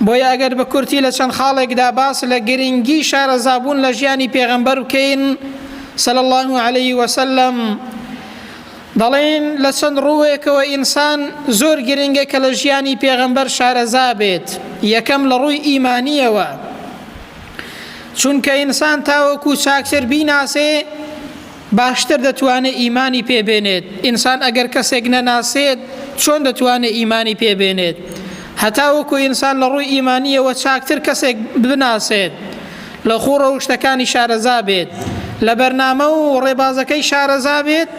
بۆیە ئەگەر بە کورتی لە چەند خاڵێکدا باس لە گرنگی شارەزابوون لە ژیانی پێغەمبەر بکەین صلی الله علیه وسلم دەڵێن لە چەند ڕووێکەوە ئینسان زۆر گرنگە کە لە ژیانی پێغەمبەر شارەزا بێت یەکەم لە ڕووی ئیمانیەوە چونکە ئینسان تاوەکو چاکتر بیناسێ باشتر دەتوانێت ئیمانی پێ بێنێت، ئینسان ئەگەر کەسێک نەناسێت چۆن دەتوانێت ئیمانی پێ بێنێت؟ هەتاوەکو ئینسان لە ڕووی ئیمانییەوە چاکتر کەسێک بناسێت، لە خووڕە و شتەکانی شارەزا بێت، لە بەرنامە و ڕێبازەکەی شارەزا بێت،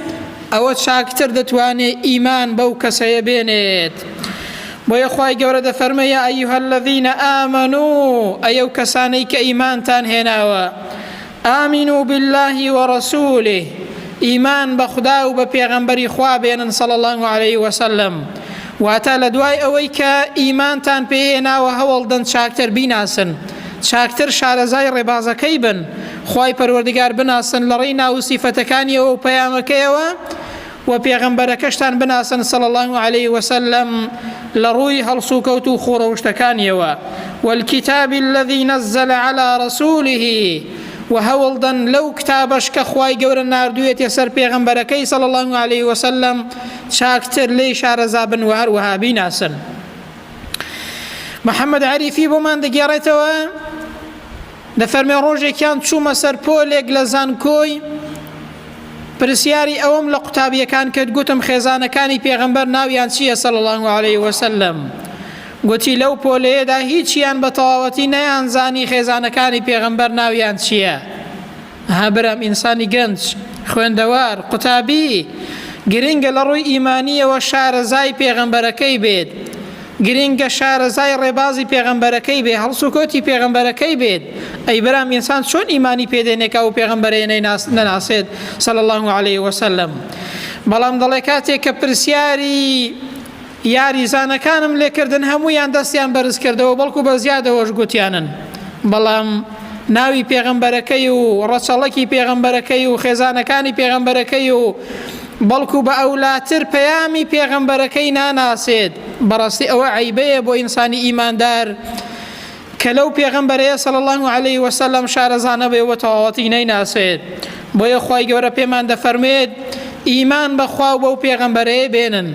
ئەوە چاکتر دەتوانێت ئیمان بەو کەسەیە بێنێت. بۆیە خوای گەورە دەفەرمێ یا ایها الذین آمنو ئەی ئەو کەسانەی کە ئیمانتان هێناوە آمنوا باللە و رسولە، ئیمان بە خودا و بە پێغەمبەری خوا بێنن صلی اللە علیە و سلم، واتە لە دوای ئەوەی کە ئیمانتان پێ هێناوە هەوڵدەن چاکتر بیناسن، چاکتر شارەزای ڕێبازەکەی بن، خوای پەروەردگار بناسن لەڕێی ناو و سیفەتەکانیەوە و پەیامەکەیەوە، وە پێغەمبەرەکەشتان بناسن صلی اللە علیە وسلم لە ڕووی هەڵسوکەوت و خۆڕەوشتەکانیەوە والکتاب الذي نزل على رسوله و هەوڵدەن لەو کتابەش کە خوای گەورە نردوێتێ سەر پێغەمبەرەکەی صلی اللە علیه وسلم چاکتر لێی شارەزابن و هەروەها بیناسن محمد عریفی بۆمان دەگێڕێتەوە دەفەرمێ ڕۆژێکیان چوومە سەر پۆلێک لە زانکۆی پرسیاری ئەوم لە قوتابیەکان کرد گوتم خێزانەکانی پێغەمبەر ناویان چییە سەڵ الله عليه وسلم گوتی لەو پۆلەیەدا هیچیان بە تەواوەتی نەیانزانی خێزانەکانی پێغەمبەر ناویان چییە ها برام ئینسانی گەنج خوێندەوار قوتابی گرنگە لە ڕووی ئیمانیەوە شارەزای پێغەمبەرەکەی بێت گرنگە شارەزای ڕێبازی پێغەمبەرەکەی بێ هەڵسوکۆتی پێغەمبەرەکەی بێت ئەی برام ئینسان چۆن ئیمانی پێدێنێکا و پێغەمبەرەیە نەناسێت سەل الله عليه وسلم بەڵام دەڵێ کاتێک کە پرسیاری یاریزانەکانم لێکردن هەموویان دەستیان بەرزکردەوە بەڵکو بەزیادەوەش گوتیانن بەڵام ناوی پێغەمبەرەکەی و ڕەچەڵەکی پێغەمبەرەکەی و خێزانەکانی پێغەمبەرەکەی و بەڵکو بە ئەولاتر پەیامی پێغەمبەرەکەی ناناسێت بەڕاستی ئەوە عەیبەیە بۆ ئینسانی ئیماندار کە لەو پێغەمبەرەیە صلی اللە علیە وسلم شارەزا نەبێ و بە تەواوەتی نەیناسێت بۆیە خوای گەورە پێمان دەفەرمێت ئیمان بەخوا و بەو پێغەمبەرەیە بێنن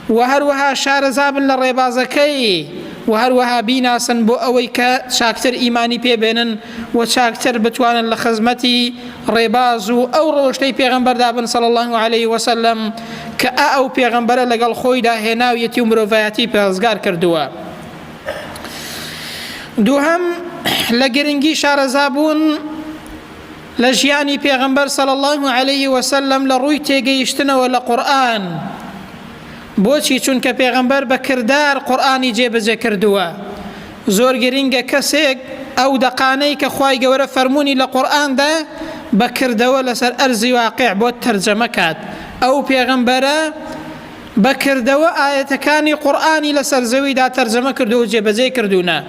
و هەروەها شارەزابن لە ڕێبازەکەی و هەروەها بیناسن بۆ ئەوەی کە چاکتر ئیمانی پێبێنن و چاکتر بتوانن لە خزمەتی ڕێباز و ئەو ڕۆشتەی پێغەمبەردا بن صلی اللە علیه وسلم کە ئا ئەو پێغەمبەرە لەگەڵ خۆیدا هێناویەتی و مرۆڤایەتی پێزگار کردووە دووهەم لە گرنگی شارەزابوون لە ژیانی پێغمبەر سەڵ الله عليه وسلم لە ڕووی تێگەیشتنەوە لە قورآن بۆچی چونکە پێغمبەر بە کردار قورآانی جێبەجێ کردووە زۆر گرنگە کەسێک ئەو دەقانەی کە خی گەورە فەرمونی لە قورآاندا بەکردەوە لەسەر ئەرزی واقع بۆ تەرجەمە کات ئەو پێغمبەرە بە کردەوە ئایەتەکانی قورئانی لەسەر زەویدا تەرجەمە کردووە و جێبەجێی کردوونە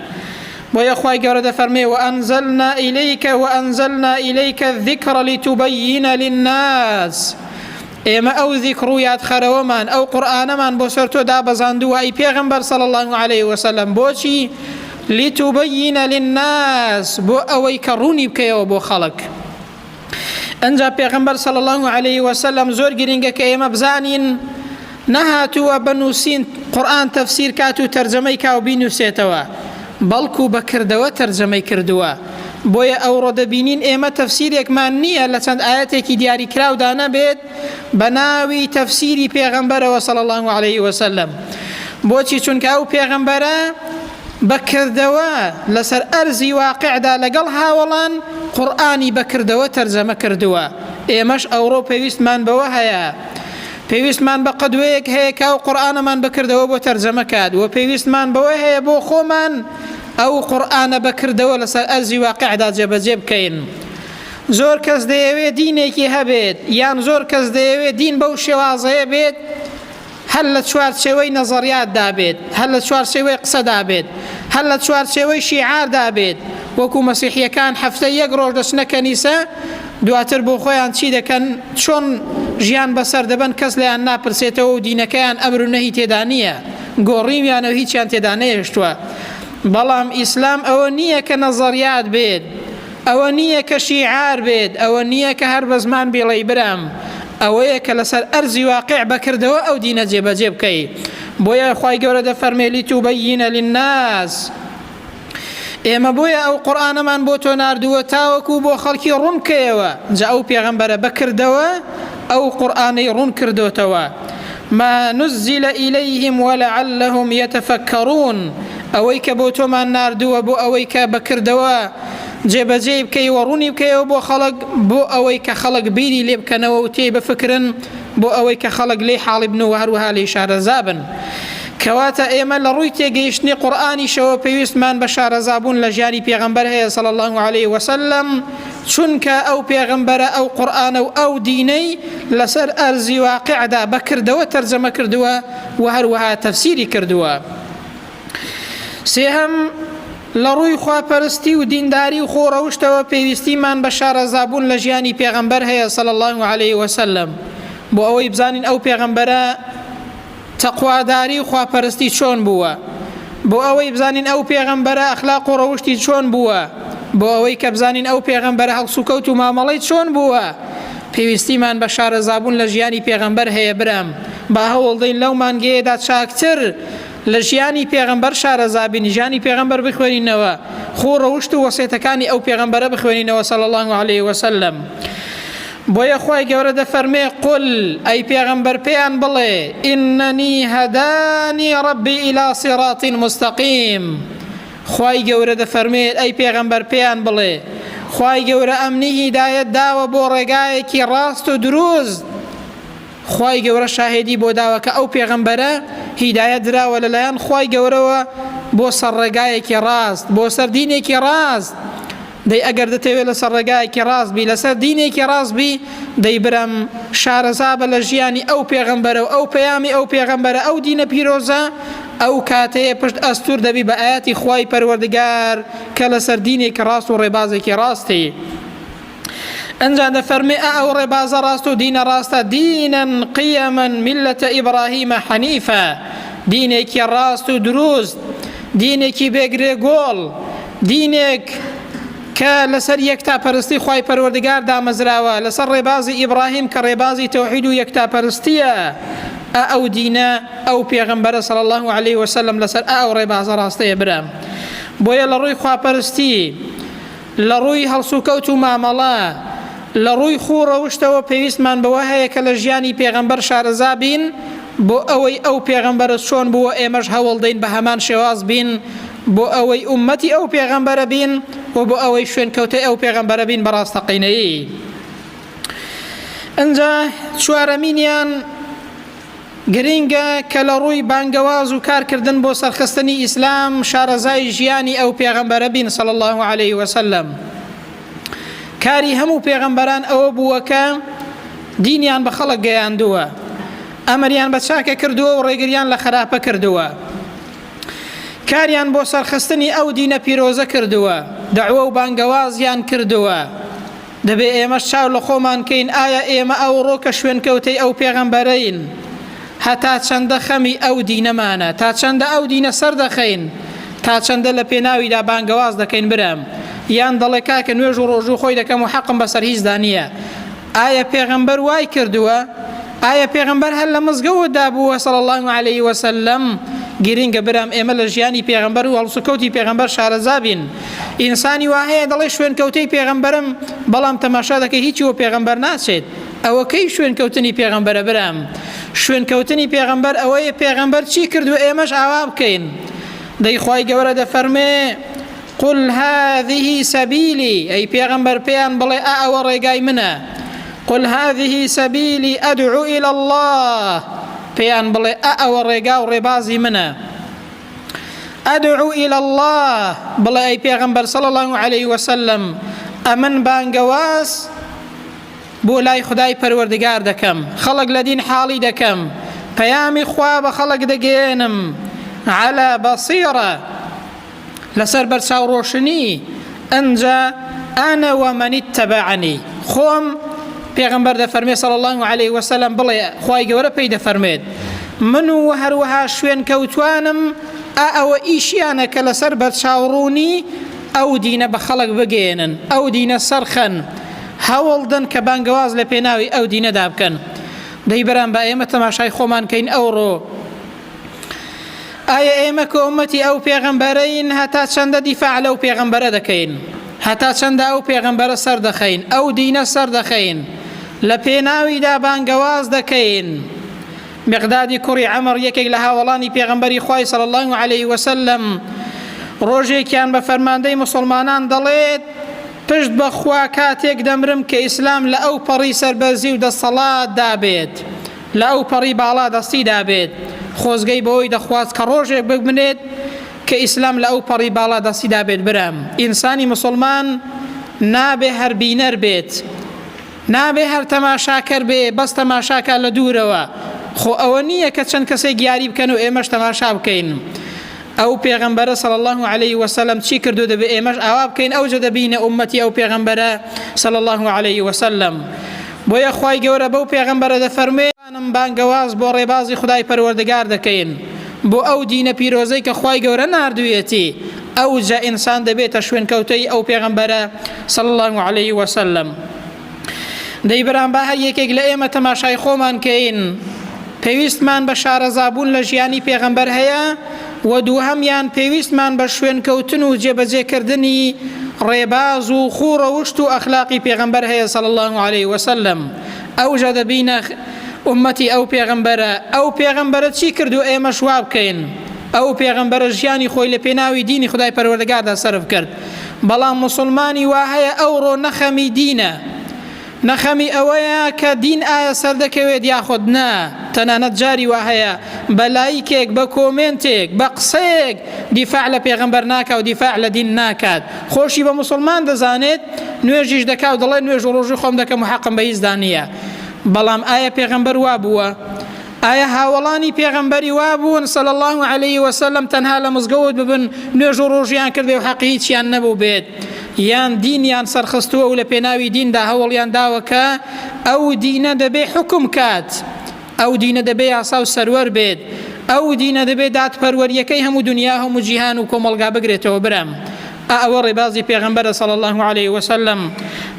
بۆیە خوای گەورە دەفەرمێ وەئەنزەلنا ئیلەیکە وەئەنزەلنا ئیلەیکە الذکر لتبین للناس ئێمە ئەو ذیکر و یادخەرەوەمان ئەو قورآانەمان بۆ سەر تۆ دابەزاندووە ئەی پێغمبەر صلی الله عليه وسلم بۆچی لتبین للناس بۆ ئەوەی کە ڕوونی بکەیەوە بۆ خەڵک ئەنجا پێغمبەر صلی الله عليه وسلم زۆر گرنگە کە ئێمە بزانین نەهاتووە بە نووسین قورآن تەفسیر کات و تەرجەمەی کاو بینوسێتەوە بەڵکو بە کردەوە تەرجەمەی کردووە بۆیە ئەوڕۆ دەبینین ئێمە تەفسیرێکمان نییە لە چەند ئاەتێکی دیاری کراودا نەبێت بە ناوی تەفسیری پێغەمبەرەوە صلی الله عليه وسلم بۆچی چونکە ئەو پێغەمبەرە بە کردەوە لەسەر ئەرزی واقیعدا لەگەڵ هاوەڵان قورئانی بە کردەوە تەرجەمە کردووە ئێمەش ئەوڕۆ پێویستمان بەوە هەیە پێویستمان بە قەدوەیەک هەیە کە ئەو قورئانەمان بەکردەوە بۆ تەرجەمە کات و پێویستمان بەوە هەیە بۆ خۆمان ئەو قورئانە بەکردەوە لەسەر ئەرزی واقعدا جێبەجێ بکەین زۆر کەس دەیەوێت دینێکی هەبێت یان زۆر کەس دەیەوێت دین بەو شێوازەیە بێت هەر لە چوارچێوەی نەزەڕیاتدا بێت، هەر لە چوارچێوەی قسەدا بێت، هەر لە چوارچێوەی شیعاردا بێت، وەکو مەسیحییەکان هەفتەی یەک ڕۆژ دەچنە کەنیسە، دواتر بۆ خۆیان چی دەکەن، چۆن ژیان بەسەر دەبەن کەس لێیان ناپرسێتەوە و دینەکەیان ئەمر و نەهی تێدا نییە، گۆڕیویانە و هیچیان تێدا نەهێشتووە. بەڵام ئیسلام ئەوە نییە کە نەزەڕیات بێت، ئەوە نییە کە شیعار بێت، ئەوە نییە کە هەر بە زمان بیڵێی برام، ئەوەیە کە لەسەر ئەرزی واقع بە کردەوە ئەو دینە جێبەجێ بکەی. بۆیە خوای گەورە دەفەرمێ لتبین للناس، ئێمە بۆیە ئەو قورئانەمان بۆ تۆ ناردووە تاوەکو بۆ خەڵکی ڕوون بکەیەوە، جا ئەو پێغەمبەرە بە کردەوە ئەو قورئانەی ڕوون کردۆتەوە. ما نزل الیهم ولعلهم یتفکرون، ئەوەی کە بۆ تۆمان ناردووە بۆ ئەوەی کە بە کردەوە جێبەجێی بکەی و ڕوونی بکەیەوە بۆ خەڵک بۆ ئەوەی کە خەڵک بیری لێ بکەنەوە و تێی بفکرن بۆ ئەوەی کە خەڵک لێی حاڵی بن و هەروەها لێی شارەزا بن کەواتە ئێمە لە ڕووی تێگەیشتنی قورآانیشەوە پێویستمان بە شارەزابوون لە ژیانی پێغمبەر هەیە سەڵ الله عليه وسلم چونکە ئەو پێغمبەرە ئەو قورآانە و ئەو دینەی لەسەر ئەرزی واقعدا بەکردەوە تەرجەمە کردووە و هەروەها تەفسیری کردووە سێهم لە ڕووی خواپەرستی و دینداری و خۆڕەوشتەوە پێویستیمان بە شارەزابوون لە ژیانی پێغەمبەر هەیە صلی اللە علیە وسلم بۆ ئەوەی بزانین ئەو پێغەمبەرە تەقواداری و خواپەرستی چۆن بووە بۆ ئەوەی بزانین ئەو پێغەمبەرە ئەخلاق و ڕەوشتی چۆن بووە بۆ ئەوەی کە بزانین ئەو پێغەمبەرە هەڵسوکەوت و مامەڵەی چۆن بووە پێویستیمان بە شارەزابوون لە ژیانی پێغەمبەر هەیە برام با هەوڵدەین لەو مانگەیەدا چاکتر لە ژیانی پێغەمبەر شارەزا بین، ژیانی پێغەمبەر بخوێنینەوە، خوو ڕەوشت و وەسێتەکانی ئەو پێغەمبەرە بخوێنینەوە صلی اللە علیە وسلم. بۆیە خوای گەورە دەفەرمێ قل ئەی پێغەمبەر پێیان بڵێ ئیننی هەدانی ڕەبی ئیلا صراط مستقیم خوای گەورە دەفەرمێت ئەی پێغەمبەر پێیان بڵێ خوای گەورە ئەمنی هیدایەت داوە بۆ ڕێگایەکی ڕاست و دروست خوای گەورە شاهێدی بۆ داوە کە ئەو پێغەمبەرە هیدایەت دراوە لەلایەن خوای گەورەوە بۆ سەر ڕێگایەکی ڕاست بۆ سەر دینێکی ڕاست دەی ئەگەر دەتەوێت لەسەر ڕێگایەکی ڕاست بی لەسەر دینێکی ڕاست بی دەی برم شارەزا بە لە ژیانی ئەو پێغەمبەرە و ئەو پەیامی ئەو پێغەمبەرە ئەو دینە پیرۆزە ئەو کاتەیە پشت ئەستور دەبی بە ئاەتی خوای پەروەردگار کە لەسەر دینێکی ڕاست و ڕێبازێکی ڕاستی. ئەنجا دەفەرمێ ئا ئەو ڕێبازە ڕاست و دینە ڕاستە دینەن قیەمەن میلەتە ئیبراهیمە حەنیفە دینێکی ڕاست و دروست دینێکی بێگرێ گۆڵ دینێک کە لەسەر یەکتا پەرستی خی پەروەردگار دامەزراوە لەسەر ڕێبازی ئیبراهیم کە ڕێبازی تەوحید و یەکتا پەرستیە ئەو دینە ئەو پێغمبەرە سەڵ الله عليه وسلم لەسەر ئەو ڕێبازە ڕاستەیە برام بۆیە لە ڕووی خواپەرستی لە ڕووی هەڵسوکەوت و مامەڵە، لە ڕووی خوو و ڕەوشتەوە پێویستمان بەوە هەیە کە لە ژیانی پێغەمبەر شارەزا بین، بۆ ئەوەی ئەو پێغەمبەرە چۆن بووە ئێمەش هەوڵدەین بە هەمان شێواز بین، بۆ ئەوەی ئوممەتی ئەو پێغەمبەرە بین و بۆ ئەوەی شوێنکەوتەی ئەو پێغەمبەرە بین بە ڕاستەقینەیی. ئینجا چوارەمینیان. گرینگە کە لە ڕووی بانگەواز و کارکردن بۆ سەرخستنی ئیسلام شارەزای ژیانی ئەو پێغەمبەرە بین صلی الله علیه وسلم کاری هەموو پێغەمبەران ئەوە بووە کە دینیان بە خەڵک گەیاندووە ئەمریان بە چاکە کردووە و ڕێگریان لە خراپە کردووە کاریان بۆ سەرخستنی ئەو دینە پیرۆزە کردووە دەعوە و بانگەوازیان کردووە دەبێت ئێمەش چاو لە خۆمان کەین ئایا ئێمە ئەوڕۆ کە شوێنکەوتەی ئەو پێغەمبەرەین هەتا چەندە خەمی ئەو دینەمانە تا چەندە ئەو دینە سەردەخەین تا چەندە لە پێناویدا بانگەواز دەکەین برام یان دەڵێ کاکە نوێژ و ڕۆژوو خۆی دەکەم و حەقم بەسەر هیچدا نییە ئایا پێغەمبەر وای کردووە ئایا پێغمبەر هەر لە مزگەوە دابووە سەڵ الله عليه وسلم گرنگە برام ئێمە لە ژیانی پێغمبەر و هەڵسوکەوتی پێغمبەر شارەزابین ئینسانی وا هەیە دەڵێ شوێنکەوتەی پێغەمبەرم بەڵام تەماشا دەکەی هیچی وە پێغەمبەر ناچێت ئەوە کەی شوێنکەوتنی پێغەمبەرە برام شوێنکەوتنی پێغەمبەر ئەوەیە پێغەمبەر چی کرد و ئێمەش ئاوا بکەین دەیخوای گەورە دەفەرمێ قل هذه سبيلي أي پیغمبر پیان بڵێ ئا ئەوە ڕێگای منە قل هذه سبيلي أدعو إلى الله پیان بڵێ ئا ئەوە ڕێگا و ڕێبازی منە ادعو الی اللە، بڵێ ئەی پێغەمبەر صلی اللە علیه وسلم ئەمن بانگەواز بۆ لای خدای پەروەردگار دەکەم خەڵک لە دین حاڵی دەکەم پەیامی خوا بە خەڵک دەگەێنم على بەسیڕە لەسەر بەرچاو ڕۆشنی ئنجا انا ومن اتبعنی، خۆم، پێغەمبەر دەفەرموێ صلی اللە علیە وسلم، بڵێ خوای گەورە پێی دەفەرموێت من و هەروەها شوێن کەوتوانم ئا ئەوە ئیشیانە کە لەسەر بەرچاوڕوونی ئەو دینە بە خەڵک بگەیەنن ئەو دینە سەرخەن هەوڵدن کە بانگەواز لە پێناوی ئەو دینەدا بکەن دەی برام با ئێمە تەماشای خۆمان کەین ئەوڕۆ ئایا ئێمە کە ئومەتی ئەو پێغەمبەرەین هەتا چەندە دیفاع لەو پێغەمبەرە دەکەین هەتا چەندە ئەو پێغەمبەرە سەر دەخەین ئەو دینە سەر دەخەین لە پێناویدا بانگەواز دەکەین مقدادی کوڕی ئەمر یەکێک لە هاوڵانی پێغەمبەری خی سەڵ الله عليه وسلم ڕۆژێکیان بە فەرماندەی مسلمانان دەڵێت پشت بەخوا کاتێک دەمرم کە ئیسلام لە ئەو پەڕی سەربەرزی و دەسەڵات دابێت لە ئەوپەڕی باڵا دەستیدا بێت، خۆزگەی بەوەی دەخواست کە ڕۆژێک ببنێت کە ئیسلام لە ئەو پەڕی باڵا دەستیدا بێت برام ئینسانی موسڵمان نابێ هەر بینەر بێت نابێ هەر تەماشاکەر بێ بەس تەماشاکە لە دوورەوە خۆ ئەوە نییە کە چەند کەسێک یاری بکەن و ئێمەش تەماشا بکەین ئەو پێغەمبەرە صلی اللە علیه وسلم چی کردو دەبێ ئێمەش ئاوا بکەین ئەوجە دەبینە ئومەتی ئەو پێغەمبەرە صلی اللە علیه وسلم بۆیە خوای گەورە بەو پێغەمبەرە دەفەرموێ ئەم بانگەواز بۆ ڕێبازی خدای پەروەردگار دەکەین بۆ ئەو دینە پیرۆزەی کە خوای گەورە نردویەتی ئەوجە ئینسان دەبێتە شوێنکەوتەی ئەو پێغەمبەرە صلی اللە علیه وسلم دەی برام با هەر یەکێک لە ئێمە تەماشای خۆمان کەین پێویستمان بە شارەزابوون لە ژیانی پێغەمبەر هەیە و دووهەمیان پێویستمان بە شوێنکەوتن و جێبەجێکردنی ڕێباز و خوو ڕەوشت و ئەخلاقی پێغەمبەر هەیە سەڵ الله عليه وسلم ئەوژە دەبینە ئومەتی ئەو پێغەمبەرە ئەو پێغەمبەرە چی کرد و ئێمە شوا بکەین ئەو پێغەمبەرە ژیانی خۆی لە پێناوی دینی خدای پەروەردەگاردا سرف کرد بەڵام موسڵمانی وا هەیە ئەوڕۆ نە خەمی دینە، نە خەمی ئەوەیە کە دین ئایا سەردەکەوێت یاخود نا، تەنانەت جاری وا هەیە بە لایکێک، بە کۆمێنتێک، بە قسەیەک دیفاع لە پێغەمبەر ناکا و دیفاع لە دین ناکات، خۆشی بە موسڵمان دەزانێت، نوێژیش دەکا و دەڵێت نوێژ و ڕۆژووی خۆم دەکەم و حەقم بە هیچدا نییە، بەڵام ئایا پێغەمبەر وا بووە؟ ئایا هاوەڵانی پێغەمبەری وا بوون صلی اللە علیه وسلم تەنها لە مزگەوت ببن نوێژ و ڕۆژیان کردێ و حەقی هیچیان نەبوو بێت یان دینیان سەرخستووە و لە پێناوی دیندا هەوڵیان داوە کە ئەو دینە دەبێ حکم کات ئەو دینە دەبێ یاسا و سەروەر بێت ئەو دینە دەبێ دادپەروەریەکەی هەموو دنیا هەموو جیهان و کۆمەلگا بگرێتەوە برام ئا ئەوە ڕێبازی پێغەمبەرە صلی اللە علیە وسلم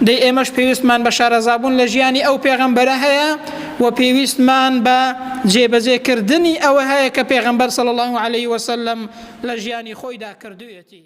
دەی ئێمەش پێویستمان بە شارەزابوون لە ژیانی ئەو پێغەمبەرە هەیە و پێویستمان بە جێبەجێکردنی ئەوە هەیە کە پێغەمبەر صلی اللە علیە وسلم لە ژیانی خۆیدا کردوێتی